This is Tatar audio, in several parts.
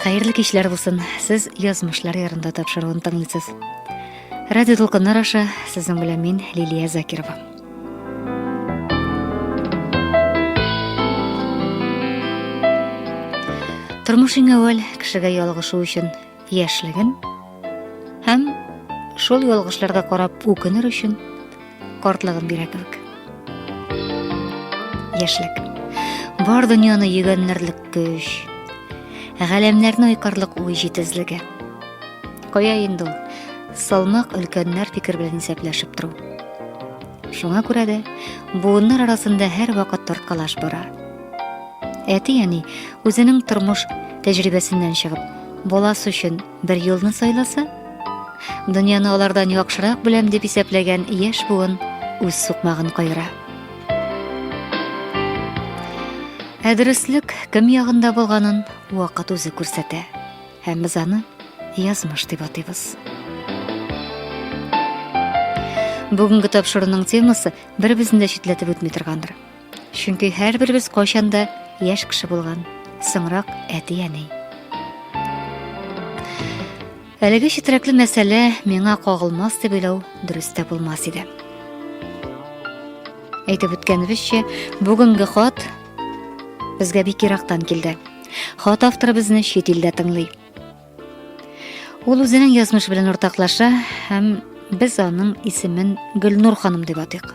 Хәерле кичләр булсын. Сез язмышлар ярында тапшыруын тыңлыйсыз. Радио Тулкыннар аша сезнең белән мин Лилия Закирова. Тормыш иң әүвәл кешегә ялгышу өчен яшьлеген һәм шул ялгышларга карап үкенер өчен картлыгын бирә кебек. Яшьлек. Бар дөньяны йөгәннәрлек көч, галәмнәрне айкарлык уй җитезлеге. Кая инде ул? Салмак өлкәннәр фикер белән исәпләшеп тору. Шуңа күрә дә буыннар арасында һәр вакыт тарткалаш бара. Әти әни үзенең тормыш тәҗрибәсеннән чыгып, баласы өчен бер юлны сайласа, дөньяны алардан яхшырак беләм дип исәпләгән яшь буын үз сукмагын кайыра. Ә дөреслек кем ягында булганын вакыт үзе күрсәтә. Һәм без аны язмыш дип атыйбыз. Бүгенге тапшыруның темасы бер-берсен дә читләтеп үтми торгандыр. Чөнки һәрберебез кайчан да яшь кеше булган, соңрак әти-әни. Әлеге читрәкле мәсьәлә миңа кагылмас дип уйлау дөрес тә булмас иде. Әйтеп үткәнебезчә, бүгенге хат безгә бик ерактан килде. Хат авторы безне чит илдә тыңлый. Ул үзенең язмыш белән уртаклаша һәм без аның исемен Гөлнур ханым дип атыйк.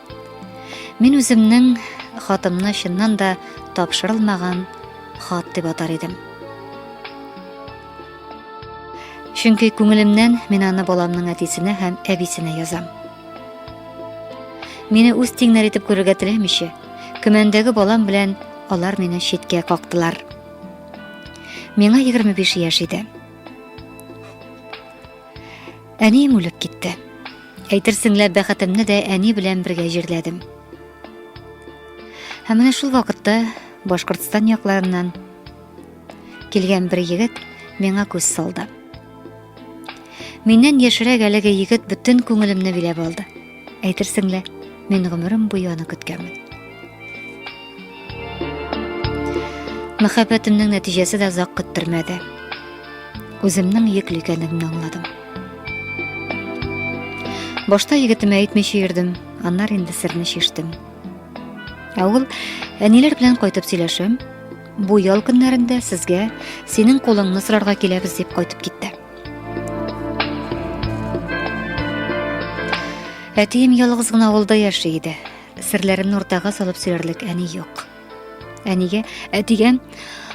Мин үземнең хатымны чыннан да тапшырылмаган хат дип атар идем. Чөнки күңелемнән мин аны баламның әтисенә һәм әбисенә язам. Мине үз тиңнәр итеп күрергә теләмичә, көмәндәге балам белән алар мине читкә кактылар. Миңа 25 яшь иде. Әнием үлеп китте. Әйтерсең лә бәхетемне дә әни белән бергә җирләдем. Һәм менә шул вакытта Башкортстан якларыннан килгән бер егет миңа күз салды. Миннән яшерәк әлеге егет бөтен күңелемне биләп алды. Әйтерсең лә, мин гомерем буе аны көткәнмен. Мәхәббәтемнең нәтиҗәсе дә озак көттермәде. Үземнең йөкле икәнлегемне аңладым. Башта егетемә әйтмичә йөрдем, аннар инде серне шиштем. Ә ул әниләр белән кайтып сөйләшәм. Бу ял көннәрендә сезгә синең кулыңны сорарга киләбез дип кайтып китте. Әтием ялгыз гына авылда яши иде. Серләремне уртага салып сөйләрлек әни юк. Әнигә, әтигә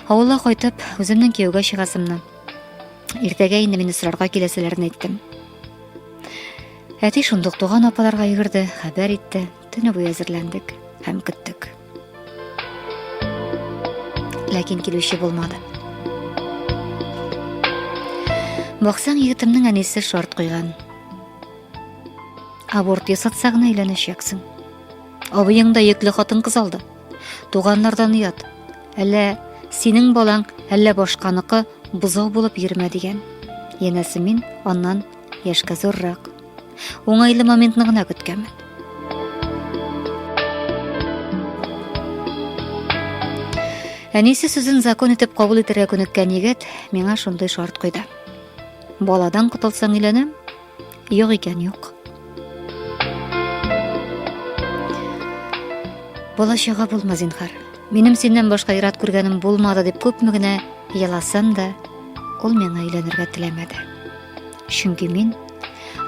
авылга кайтып, үземнең кияүгә чыгасымны. Иртәгә инде мине сорарга киләселәрен әйттем. Әти шундук туган апаларга йөгерде, хәбәр итте. Төне буе әзерләндек һәм көттек. Ләкин килүче булмады. Баксаң, егетемнең әнисе шарт куйган. Аборт ясатса гына өйләнәчәксең. Абыең да йөкле хатын-кыз алды. Туганнардан ят. Әллә синең балаң, әллә башканыкы бозау булып йөрмә дигән. Янәсе мин аннан яшькә зуррак. Уңайлы моментны гына көткәнмен. Әнисе сүзен закон итеп кабул итәргә күнеккән егет миңа шундый шарт куйды. Баладан котылсаң өйләнәм, Юк икән, юк. Бала чага булма, зинхар. Минем синнән башка ират күргәнем булмады дип күпме генә еласам да, ул миңа өйләнергә теләмәде. Чөнки мин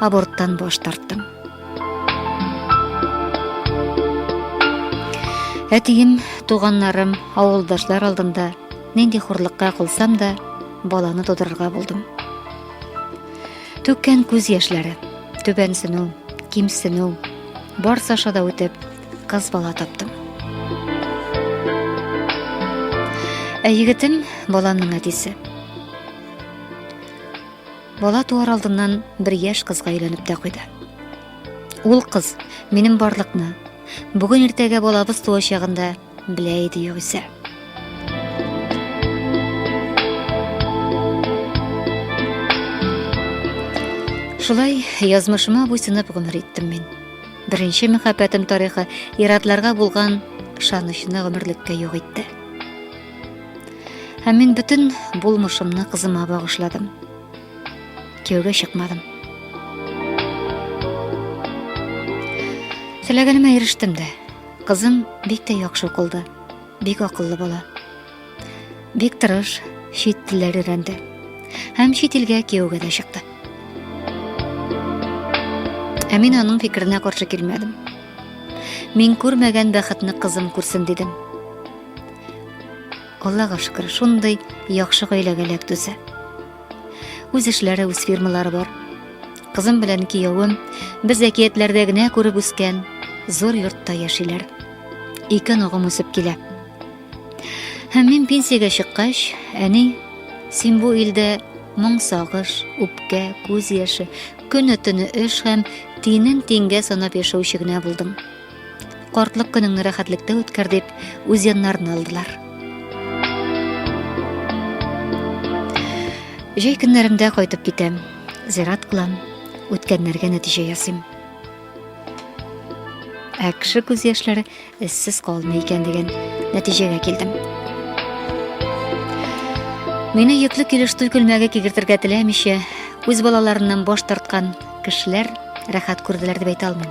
аборттан баш тарттым. Әтием, туганнарым, авылдашлар алдында нинди хурлыкка кылсам да, баланы тудырырга булдым. Түккән күз яшьләре, түбәнсенү, кимсенү, барс аша да үтеп, кыз бала таптым. Ә егетем баланың әтисе. Бала туар алдыннан бер яшь кызга өйләнеп тә куйды. Ул кыз минем барлыкны, бүген иртәгә балабыз туачагында Белә иде югыйсә. Шулай язмышыма буйсынып гомер иттем мин. Беренче мәхәббәтем тарихы иратларга булган ышанычны гомерлеккә юк итте. Һәм мин бөтен булмышымны кызыма багышладым. Кияүгә чыкмадым. Теләгәнемә ирештем дә. Кызым бик тә яхшы укылды. Бик акыллы бала. Бик тырыш, чит телләр өйрәнде. Һәм чит илгә кияүгә дә чыкты. Ә мин аның фикеренә каршы килмәдем. Мин күрмәгән бәхетне кызым күрсен дидем. Аллага шөкер, шундый яхшы гаиләгә эләктүсә. Үз эшләре, үз фирмалары бар. Кызым белән киявем без әкиятләрдә генә күреп үскән зур йортта яшиләр. Ике ногым үсеп килә. Һәм мин пенсиягә чыккач, әни, син бу илдә моң сагыш, үпкә, күз яше, көне-төне эш һәм тинен тингә санап яшәүче генә булдың. Картлык көнеңне рәхәтлектә үткәр дип, үз яннарына алдылар. Җәй көннәрендә кайтып китәм, зират кылам, үткәннәргә нәтиҗә ясыйм. Ә кеше күз яшьләре эзсез калмый икән дигән нәтиҗәгә килдем. Мине йөкле килеш туй күлмәге кигертергә теләмичә, үз балаларыннан баш тарткан кешеләр рәхәт күрделәр дип әйтә алмыйм.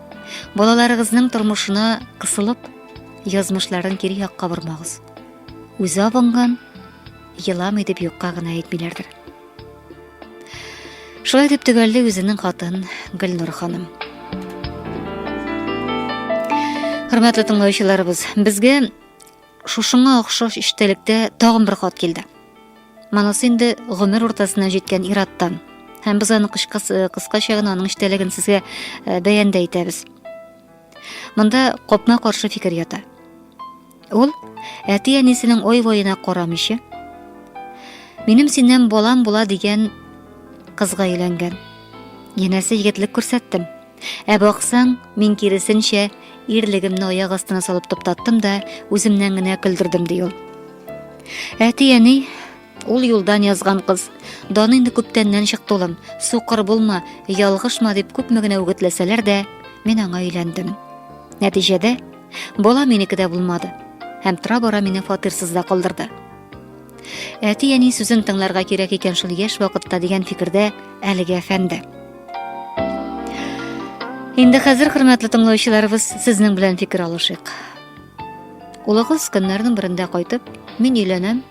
Балаларыгызның тормышына кысылып, язмышларын кире якка бормагыз. Үзе абынган, еламый дип юкка гына әйтмиләрдер. Шулай дип төгәлли үзенең хатын Гөлнур ханым. Хөрмәтле тыңлаучыларыбыз, безгә Шушыңа охшаш иштәлектә тагын бер хат килде. Монысы инде гомер уртасына җиткән ираттан. Һәм без аны э, кыскача гына аның иштәлеген сезгә э, бәян дә итәбез. Монда копма каршы фикер ята. Ул әти-әнисенең ой-воена карамыйча, минем синнән балам була дигән кызга өйләнгән. Янәсе егетлек күрсәттем. Ә баксаң, мин киресенчә, ирлегемне аяк астына салып туктаттым да, үземнән генә көлдердем, ди ул. Әти-әни, ул юлдан язган кыз. Даны инде күптәннән чыкты улым. Сукыр булма, ялгышма дип күпме генә үгетләсәләр дә, мин аңа өйләндем. Нәтиҗәдә, бала минеке дә булмады. Һәм тора-бара мине фатирсыз да калдырды. Әти әни сүзен тыңларга кирәк икән шул яшь вакытта дигән фикердә әлеге әфәнде. Инде хәзер хөрмәтле тыңлаучыларыбыз сезнең белән фикер алышыйк. Улыгыз көннәрнең берендә кайтып, мин өйләнәм,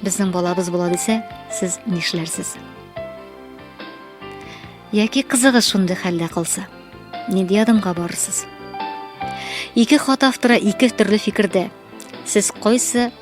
безнең балабыз була дисә, сез нишләрсез? Яки кызыгыз шундый хәлдә калса, нинди адымга барырсыз? Ике хат автора ике төрле фикердә. Сез кайсы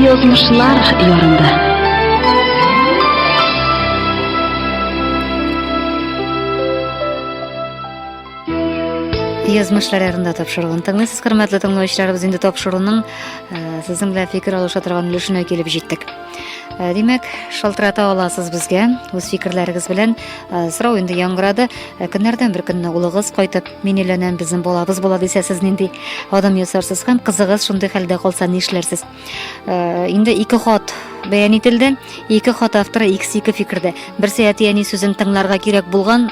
Язмышлар ярында. Язмышлар ярында тапшыруын тыңлыйсыз, хөрмәтле тыңлаучыларыбыз, инде тапшыруның э, сезнең белән фикер алыша торган өлешенә килеп җиттек. Э, димәк шалтырата аласыз безгә үз фикерләрегез белән э, сорау инде яңгырады э, көннәрдән бер көнне улыгыз кайтып мин өйләнәм безнең балабыз була дисә сез нинди адым ясарсыз һәм кызыгыз шундый хәлдә калса нишләрсез инде ике хат бәян ителде ике хат авторы икесе ике фикердә берсе әти әни сүзен тыңларга кирәк булган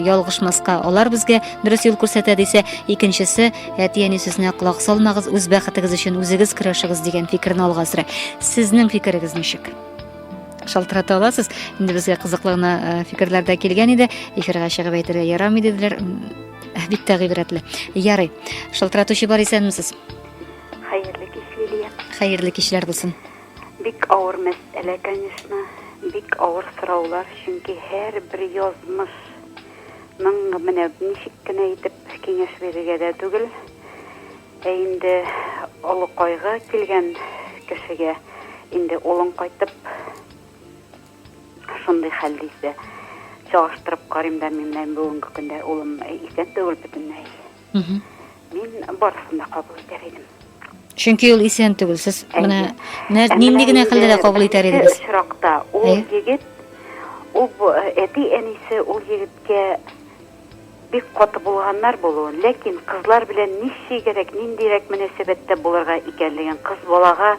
ялгышмаска алар безгә дөрес юл күрсәтә дисә икенчесе Әти әни сүзенә колак салмагыз, үз бәхетегез өчен үзегез көрәшегез дигән фикерне алга сөрә. Сезнең фикерегез ничек? шалтырата аласыз. Инде безгә кызыклы гына э, фикерләр дә килгән иде. Эфирга чыгып әйтергә ярамый диделәр. Бик тә гыйбрәтле. Ярый. Шалтыратучы бар исәнмесез? Хәерле кич, Лилия. Хәерле кичләр булсын. Бик авыр мәсьәлә, конечно. Бик авыр сораулар, чөнки һәрбер язмыш Моңа менә ничек кенә итеп киңәш бирергә дә түгел. Ә инде олы кайгы килгән кешегә инде улың кайтып шундый хәл дисә, чагыштырып карыйм да мин, менә бүгенге көндә улым исән түгел бөтенләй. Мин барысын да кабул итәр идем. Чөнки ул исән түгел. Сез менә нинди генә хәлдә дә кабул итәр идегез? Очракта ул егет, ул әти әнисе ул егеткә бик каты булганнар булуын, ләкин кызлар белән ничегрәк, ниндирәк мөнәсәбәттә булырга икәнлеген, кыз балага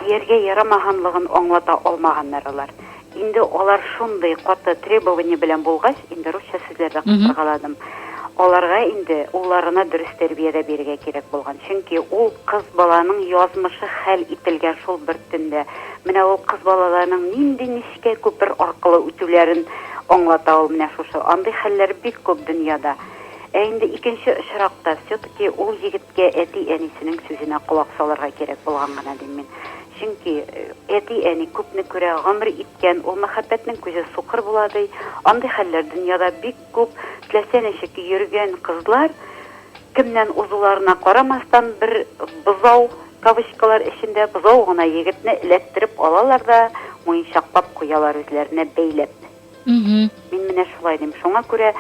Дияргә ярамаганлыгын аңлата алмаганнар алар. Инде алар шундый каты требование белән булгач, инде русча сүзләр дә кыскаргаладым. Аларга инде улларына дөрес тәрбия дә бирергә кирәк булган. Чөнки ул кыз баланың язмышы хәл ителгән шул бер төндә. Менә ул кыз балаларның нинди нечкә күпер аркылы үтүләрен аңлата ул менә шушы. Андый хәлләр бик күп дөньяда. Ә инде икенче очракта, все-таки ул егет, Кә әти-әнисенең сүзенә колак салырга кирәк булган гына дим мин. Чөнки әти-әни күпне күрә, гомер иткән, ул мәхәббәтнең күзе сукыр була, ди. Андый хәлләр дөньяда бик күп. Теләсә ничек йөргән кызлар, кемнән узуларына карамастан, бер бозау, кавычкалар эчендә, бозау гына егетне эләктереп алалар да муенчаклап куялар үзләренә бәйләп. Мин менә шулай дим. Шуңа күрә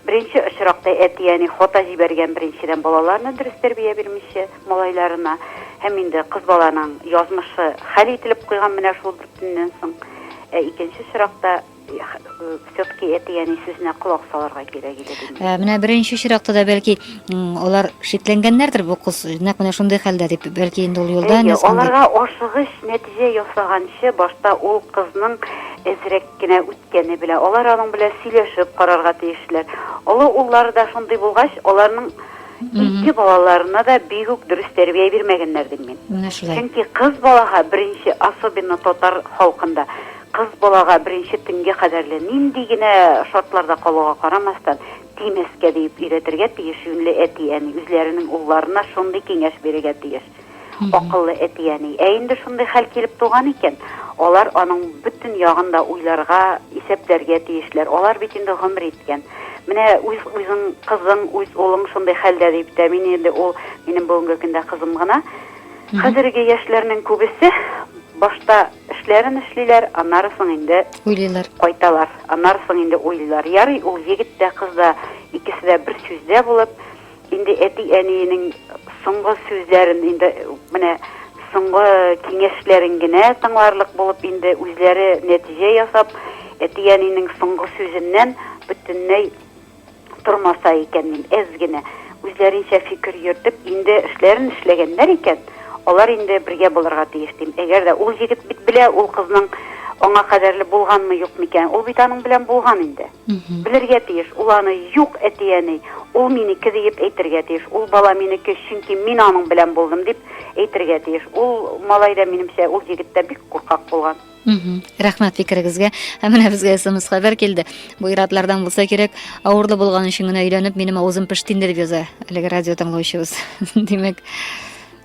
беренче очракта әти-әни хата җибәргән, беренчедән, балаларына дөрес тәрбия бирмичә, малайларына. Һәм инде кыз баланың язмышы хәл ителеп куйган менә шул дүртеннән соң. Ә икенче очракта все-таки әти-әни сүзенә колак салырга кирәк иде дим. Ә менә беренче очракта да бәлки алар шикләнгәннәрдер бу кыз нәкъ менә шундый хәлдә дип, бәлки инде ул юлдан язган. Аларга ашыгыч нәтиҗә ясаганчы башта ул кызның әзрәк генә үткәне белә. Алар аның белән сөйләшеп карарга тиешләр. Олы уллары да шундый булгач, аларның ике балаларына да бик үк дөрес тәрбия бирмәгәннәр дим мин. Менә шулай. Чөнки кыз балага беренче, особенно татар халкында, кыз балага беренче төнгә кадәрле нинди генә шартларда калуга карамастан, тимәскә диеп өйрәтергә тиеш юньле әти-әни, үзләренең улларына шундый киңәш бирергә тиеш. Акыллы әти-әни. Ә инде шундый хәл килеп туган икән, алар аның бөтен ягын да уйларга, исәпләргә тиешләр. Алар бит инде гомер иткән. Менә үз үзең, кызың, үз улың шундый хәлдә дип тә, мин инде ул минем бүгенге көндә кызым гына. Хәзерге яшьләрнең күбесе башта эшләрен эшлиләр, аннары соң инде уйлыйлар. Кайталар, аннары соң инде уйлыйлар. Ярый, ул егет тә, кыз да икесе дә бер сүздә булып, Инде әти-әниенең соңгы сүзләрен, инде менә соңгы киңәшләрен генә тыңларлык булып, инде үзләре нәтиҗә ясап, әти-әниенең соңгы сүзеннән бөтенләй тормаса икән, мин әз генә үзләренчә фикер йөртеп, инде эшләрен эшләгәннәр икән, алар инде бергә булырга тиеш дим. Әгәр дә ул егет бит белә, ул кызның аңа кадәрле булганмы, юкмы икән. Ул бит аның белән булган инде. Белергә тиеш, ул аны юк, әти-әни, ул минеке диеп әйтергә тиеш, ул бала минеке, чөнки мин аның белән булдым дип әйтергә тиеш. Ул малай да, минемчә, ул егет тә бик куркак булган. Рәхмәт фикерегезгә. Ә менә безгә смс хәбәр килде. Бу иратлардан булса кирәк, авырлы булган өчен генә өйләнеп, минем авызым пеште инде дип яза әлеге радио тыңлаучыбыз. Димәк,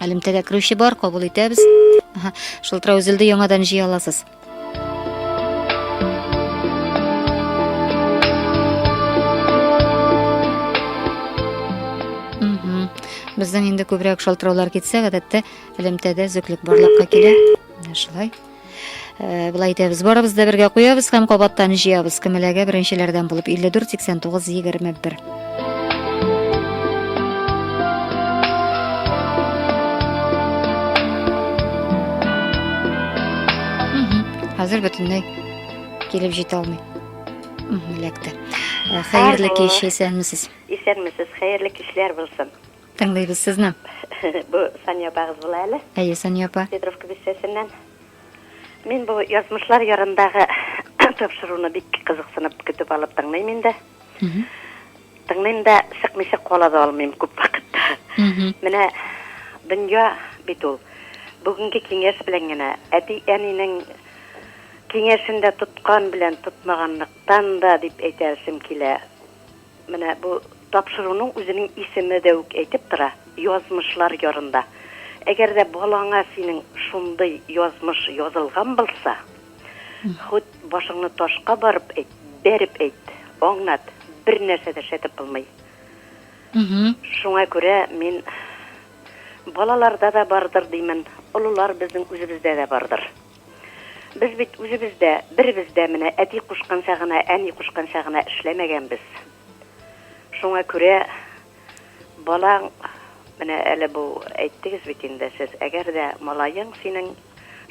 Элемтәгә керүче бар, кабул итәбез. Аһа, шылтырау өзелде, яңадан җыя аласыз. Мгм. Бездән инде күбрәк шалтыраулар китсә, гадәттә элемтәдә өзеклек барлыкка килә. Менә шулай. Э, былай итәбез барыбыз да бергә куябыз һәм кабаттан җыябыз кемеләгә беренчеләрдән булып 54 89 21 хәзер бөтенләй килеп җитә алмый эләкте э, хәерле кич исәнмесез исәнмесез хәерле кичләр булсын Тыңлыйбыз сезне. Бу Сания апагыз була әле. Әйе, Сания апа. Петровка бистәсеннән. Мин бу Язмышлар ярындагы тапшыруны бик кызыксынып көтеп алып тыңлыйм инде. Тыңлыйм да, чыкмыйча кала да алмыйм күп вакытта. Менә дөнья бит ул. Бүгенге киңәш белән генә, әти-әнинең киңәшен дә тоткан белән тотмаганлыктан да дип әйтәсем килә. Менә бу тапшыруның үзенең исеме дә үк әйтеп тора, Язмышлар ярында. Әгәр дә балаңа синең шундый язмыш язылган булса, хут башыңны ташка барып әйт, бәреп әйт, аңлат, бернәрсә дә эшләтеп булмый. Шуңа күрә мин балаларда да бардыр димен, олылар безнең үзебездә дә бардыр. Без бит үзебез дә, беребез дә менә әти кушканча гына, әни кушканча гына эшләмәгәнбез. Шуңа күрә балаң, менә әле бу әйттегез бит инде сез, әгәр дә малаең синең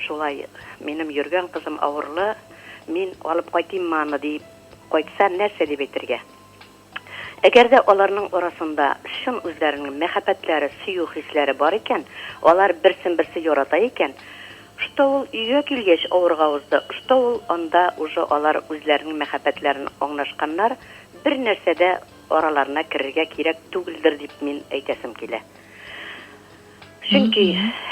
шулай, минем йөргән кызым авырлы, мин алып кайтыйммы аны диеп кайтса, нәрсә дип әйтергә? Әгәр дә аларның арасында чын үзләренең мәхәббәтләре, сөю хисләре бар икән, алар берсен-берсе ярата икән, что ул өйгә килгәч авырга узды, что ул анда уже алар үзләренең мәхәббәтләрен аңнашканнар, бер нәрсә дә араларына керергә кирәк түгелдер дип мин әйтәсем килә. Чөнки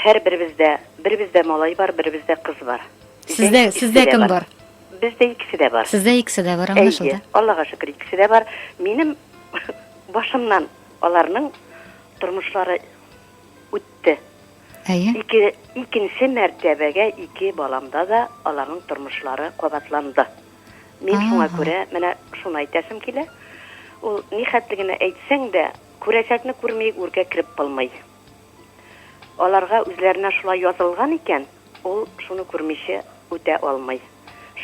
һәрберебездә, беребездә малай бар, беребездә кыз бар. Сездә, сездә кем бар? Бездә икесе дә бар. Сездә икесе дә бар, аңлашылды. Әйе, Аллага шөкер, икесе дә бар. Минем башымнан аларның тормышлары үтте. Әйе. Ике, икенче мәртәбәгә ике баламда да аларның тормышлары кабатланды. Мин Ага. шуңа күрә менә шуны әйтәсем килә. Ул ни хәтле генә әйтсәң дә, күрәчәкне күрмиек, үргә кереп булмый. Аларга үзләренә шулай язылган икән, ул шуны күрмичә үтә алмый.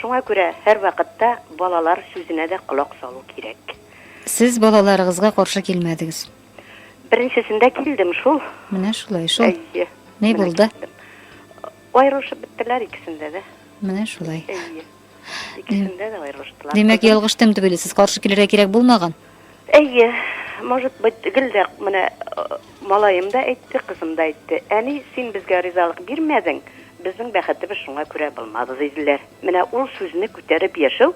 Шуңа күрә һәрвакытта балалар сүзенә дә колак салу кирәк. Сез балаларыгызга каршы килмәдегез. Беренчесендә килдем шул. Менә шулай шул. Әйе. Ни булды? Аерылышып беттеләр икесендә дә. Менә шулай. Әйе. Икесендә дә аерылыштылар. Димәк, ялгыштым дип уйлыйсыз, каршы килергә кирәк булмаган? Әйе, может быть, гел дә менә э, малаем да әйтте, кызым да әйтте. Әни, син безгә ризалык бирмәдең, безнең бәхетебез шуңа күрә булмады, диделәр. Менә ул сүзне күтәреп яшәү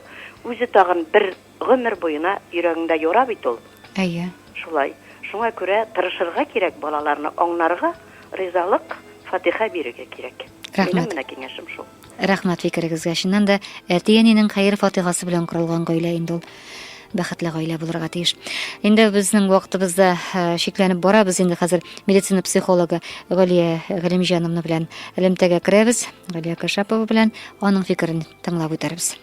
үзе тагын бер Гомер буена йөрәгеңдә яра бит ул. Әйе. Шулай. Шуңа күрә тырышырга кирәк, балаларны аңнарга, ризалык, фатиха бирергә кирәк. Рәхмәт. Минем менә киңәшем шул. Рәхмәт фикерегезгә. Чыннан да, әти-әнинең хәер-фатихасы белән корылган гаилә инде ул бәхетле гаилә булырга тиеш. Инде безнең вакытыбыз да чикләнеп бара. Без инде хәзер медицина психологы Галия Галимҗановна белән элемтәгә керәбез. Галия Кашапова белән аның фикерен тыңлап үтәрбез.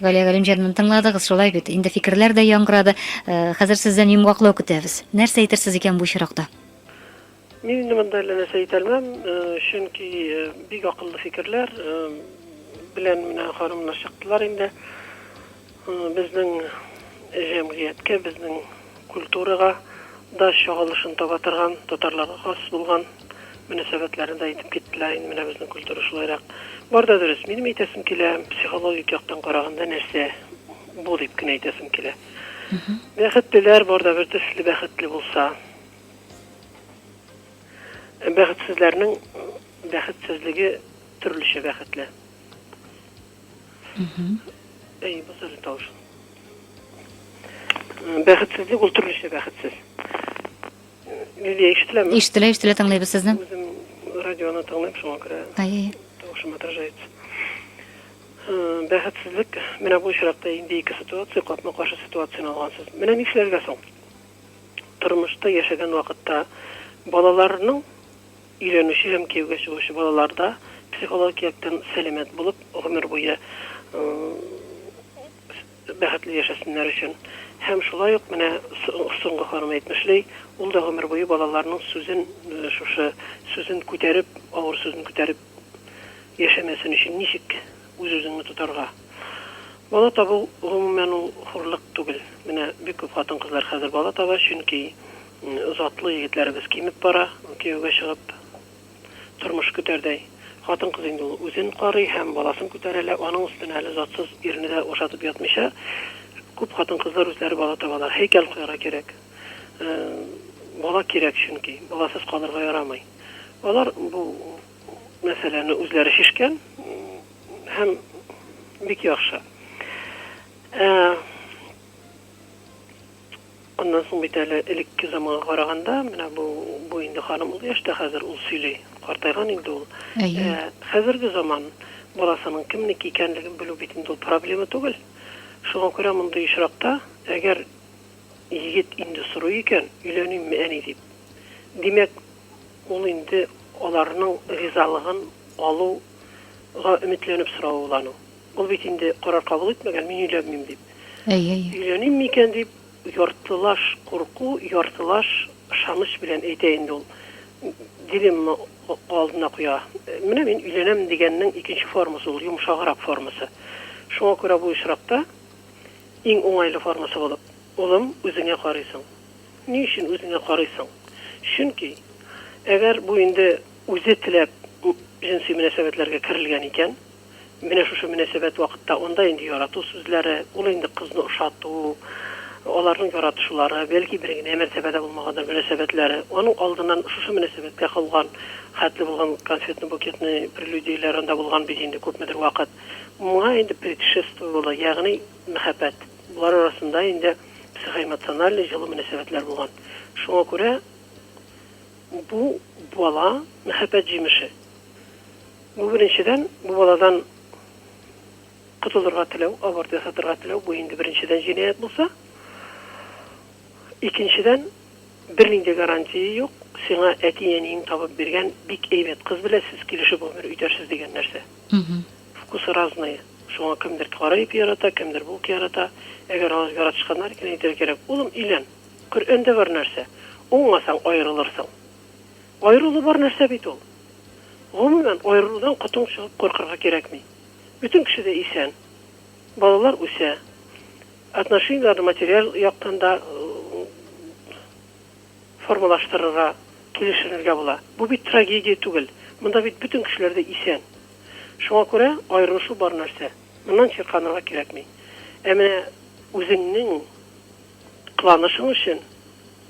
Галия Галимҗанны тыңладыгыз, шулай бит. Инде фикерләр дә яңгырады. Э, хәзер сездән йомгаклау көтәбез. Нәрсә әйтерсез икән бу очракта? Мин инде монда әллә нәрсә әйтә алмам, э, чөнки э, бик акыллы фикерләр белән менә ханымнар чыктылар инде. Безнең җәмгыятькә, безнең культурага да чагылышын таба торган, татарларга хас булган мөнәсәбәтләрне дә әйтеп киттеләр инде менә безнең культура шулайрак. Бар да дөрес, минем әйтәсем килә, психологик яктан караганда нәрсә бу дип кенә әйтәсем килә. Бәхетлеләр бар да бер төсле бәхетле булса. Бәхетсезләрнең бәхетсезлеге төрлечә бәхетле. Әй, бу сәле тавыш. Бәхетсезлек ул төрлечә бәхетсез. Лилия ишетеләме? Ишетелә, ишетелә тыңлыйбыз сезне. Үзем радионы тыңлыйм, шуңа күрә. Әй, әй. Тавышым отражается. Бәхетсезлек, менә бу очракта инде ике ситуация, капма-каршы ситуацияне алгансыз. Менә нишләргә соң? Тормышта яшәгән вакытта балаларның Өйләнүче һәм кияүгә чыгучы балалар да психологик яктан сәламәт булып, гомер буе бәхетле яшәсеннәр өчен. Һәм шулай ук менә соңгы ханым әйтмешли, ул да гомер буе балаларның сүзен, шушы сүзен күтәреп, авыр сүзен күтәреп яшәмәсен өчен ничек Үз-үзеңне тотарга. Бала табу, гомумән, ул хурлык түгел. Менә бик күп хатын-кызлар хәзер бала таба, чөнки затлы егетләребез кимеп бара, кияүгә чыгып, тормыш көтәрдәй. Хатын-кыз инде ул үзен карый һәм баласын күтәрә лә, аның өстенә әле затсыз ирне дә ашатып ятмыйча, күп хатын-кызлар үзләре бала табалар. Һәйкәл куярга кирәк. Бала кирәк, чөнки баласыз калырга ярамый. Алар бу мәсьәләне үзләре чишкән һәм бик яхшы. Ә, аннан соң бит әле элекке заманга караганда, менә бу, бу инде ханым ул яшьтә хәзер ул сөйли, картайган инде ул. Әйе. Ә, хәзерге заман баласының кемнеке икәнлеген белү бит инде ул проблема түгел. Шуңа күрә мондый очракта, әгәр егет инде сорый икән, өйләнимме әни дип, димәк, Ул инде аларның ризалыгын алу га өметләнеп соравы ул аның. Ул бит инде карар кабул итмәгән, мин өйләнмим дип. Әйе, әйе. Өйләним микән дип, яртылаш курку, яртылаш ышаныч белән әйтә инде ул. Дилемма алдына куя. Менә мин өйләнәм дигәннең икенче формасы ул, йомшаграк формасы. Шуңа күрә бу очракта иң уңайлы формасы булып, Улым, үзеңә карыйсың. Ни өчен үзеңә карыйсың? Чөнки, әгәр бу инде үзе теләп җенси мөнәсәбәтләргә керелгән икән, менә шушы мөнәсәбәт вакытта анда инде ярату сүзләре, ул инде кызны ошату, аларның яратышулары, бәлки бер генә мәртәбә дә булмагандыр мөнәсәбәтләре, аның алдыннан шушы мөнәсәбәткә калган хәтле булган конфетный-букетный прелюдияләр анда булган бит инде күпмедер вакыт. Моңа инде предшествовало, ягъни мәхәббәт. Болар арасында инде психоэмоциональ җылы мөнәсәбәтләр булган. Шуңа күрә бу бала, мәхәббәт җимеше. Бу, беренчедән, бу баладан котылырга теләү, аборт ясатырга теләү, бу инде беренчедән җинаять булса. Икенчедән, бернинди гарантия юк, сиңа әти-әниең табып биргән бик әйбәт кыз белән сез килешеп гомер үтәрсез дигән нәрсә. Вкусы разные, шуңа кемдер кара ипи ярата, кемдер булка ярата. Әгәр алар яратышканнар икән, әйтергә кирәк, Улым, өйлән! Коръәндә бар нәрсә, уңмасаң, аерылырсың. Аерылу бар нәрсә бит ул. Гомумән, аерылудан котың чыгып куркырга кирәкми. Бөтен кеше дә исән. Балалар үсә. Отношениеләрне материаль яктан да, формалаштырырга, килешенергә була. Бу бит трагедия түгел. Монда бит бөтен кешеләр дә исән. Шуңа күрә аерылышу бар нәрсә. Моннан чирканырга кирәкми. Ә менә үзеңнең кыланышың өчен,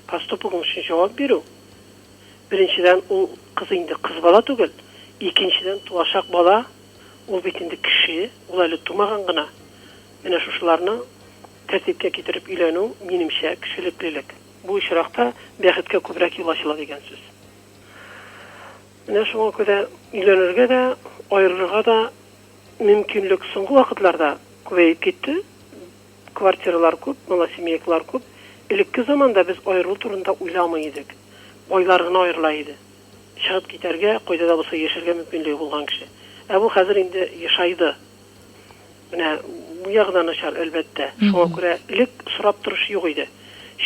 поступогың өчен җавап бирү, беренчедән, ул кыз инде кыз бала түгел, икенчедән, туачак бала, ул бит инде кеше, ул әле тумаган гына. Менә шушыларны тәртипкә китереп өйләнү, минемчә, кешелеклелек. Бу очракта бәхеткә күбрәк юл ачыла дигән сүз. Менә шуңа күрә өйләнергә дә, аерылырга да мөмкинлек соңгы вакытларда күбәеп китте. Квартиралар күп, малосемейкалар күп. Элекке заманда без аерылу турында уйламый идек. Байлар гына аерыла иде. Чыгып китәргә, кайда да булса яшәргә мөмкинлеге булган кеше. Ә бу хәзер инде ешайды. Менә бу ягы да начар, әлбәттә. Шуңа күрә элек сорап торучы юк иде.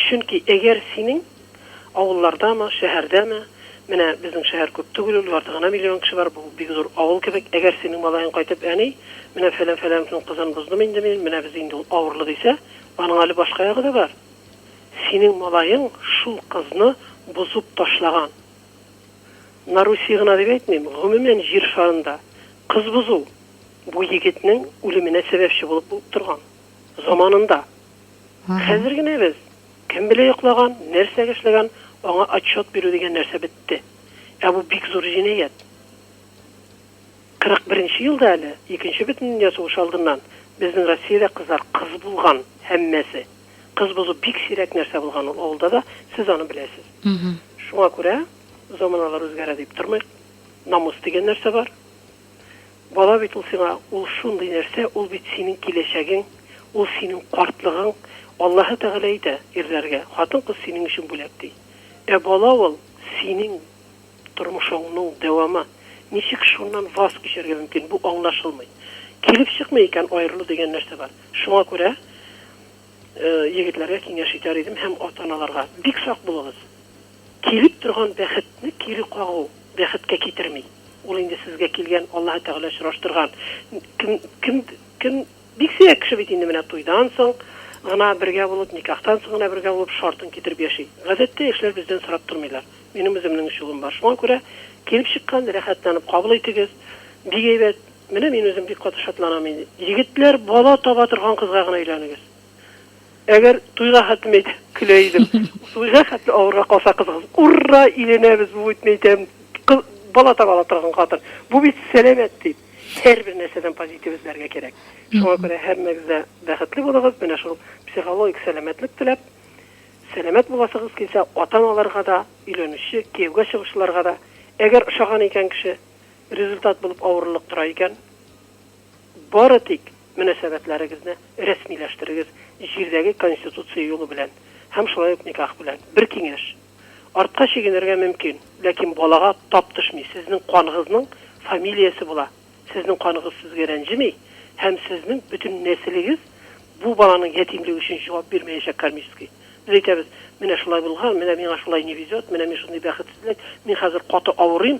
Чөнки әгәр синең авыллардамы, шәһәрдәме, менә безнең шәһәр күп түгел ул, ярты гына миллион кеше бар, бу бик зур авыл кебек, әгәр синең малаең кайтып, әни, менә фәлән-фәләнең кызын боздым инде мин, менә без инде ул авырлы дисә, аның әле башка ягы да бар. Синең малаең шул кызны бозып ташлаган. На Руси гына дип әйтмим, гомумән, җир шарында кыз бозу, Бу егетнең үлеменә сәбәпче булып торган. Заманында. Хәзер генә без, кем белә йоклаган, нәрсәгә эшләгән, аңа отчет бирү дигән нәрсә бетте. Ә бу бик зур җинаять. 41 нче елда әле, Икенче бөтендөнья сугышы алдыннан, безнең Россиядә кызлар кыз булган, һәммәсе. Кыз бозу бик сирәк нәрсә булган ул авылда да, сез аны беләсез. Шуңа күрә, заманалар үзгәрә дип тормыйк. Намус дигән нәрсә бар. Бала бит ул сиңа, ул шундый нәрсә, ул бит синең киләчәгең, ул синең картлыгың. Аллаһы Тәгалә әйтә, ирләргә, хатын-кыз синең өчен бүләк, ди. Ә бала ул, синең тормышыңның дәвамы. Ничек шуннан ваз кичәргә мөмкин, бу аңлашылмый. Килеп чыкмый икән, аерылу дигән нәрсә бар. Шуңа күрә. Егетләргә киңәш итәр идем һәм ата-аналарга, бик сак булыгыз! Килеп торган бәхетне кире кагу бәхеткә китерми. Ул инде сезгә килгән, Аллаһы Тәгалә очраштырган кем, кем, кем, бик сирәк кеше бит инде менә туйдан соң гына бергә булып, никахтан соң гына бергә булып, шартын китереп яши. Гадәттә, яшьләр бездән сорап тормыйлар. Минем үземнең өч улым бар. Шуңа күрә, килеп чыккан, рәхәтләнеп кабул итегез. Бик әйбәт. Менә мин үзем бик каты шатланам инде. Егетләр, бала таба торган кызга гына өйләнегез. Әгәр туйга хәтлеме әйтсәң, көлә идем. Туйга хәтле авырга калса кызыгыз, урра, өйләнәбез, бу бит, мин әйтәм, кыз, бала таба ала торган хатын. Бу бит сәламәт, дип. Һәрбер нәрсәдән позитив эзләргә кирәк. Шуңа күрә һәммәгез дә бәхетле булыгыз, менә шул психологик сәламәтлек теләп, сәламәт буласыгыз килсә, ата-аналарга да, өйләнүче, кияүгә чыгучыларга да, әгәр ошаган икән кеше, результат булып авырлык тора икән, бары тик мөнәсәбәтләрегезне рәсмиләштерегез җирдәге конституция юлы белән һәм шулай ук никах белән. Бер киңәш, артка чигенергә мөмкин, ләкин балага тап төшми, сезнең каныгызның фамилиясе була, сезнең каныгыз сезгә рәнҗеми һәм сезнең бөтен нәселегез бу баланың ятимлеге өчен җавап бирмәячәк кармически. Без әйтәбез, менә шулай булган, менә миңа шулай не везет, менә мин шундый бәхетсезлек, мин хәзер каты авырыйм,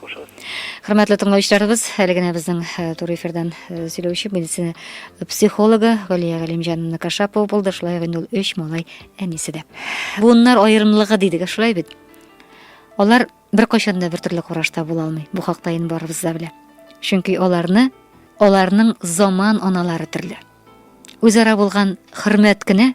Хушыгыз. Хөрмәтле тыңлаучыларыбыз, әле генә безнең э, тур эфирдан э, сөйләүче медицина психологы Галия Галимҗановна Кашапова булды. Шулай инде ул өч малай әнисе дә. Буыннар аерымлыгы дидек, шулай бит. Алар бер кайчан да бертөрле карашта була алмый. Бу хакта инде барыбыз да белә. Чөнки аларны аларның заман аналары төрле. Үзара булган хөрмәт кенә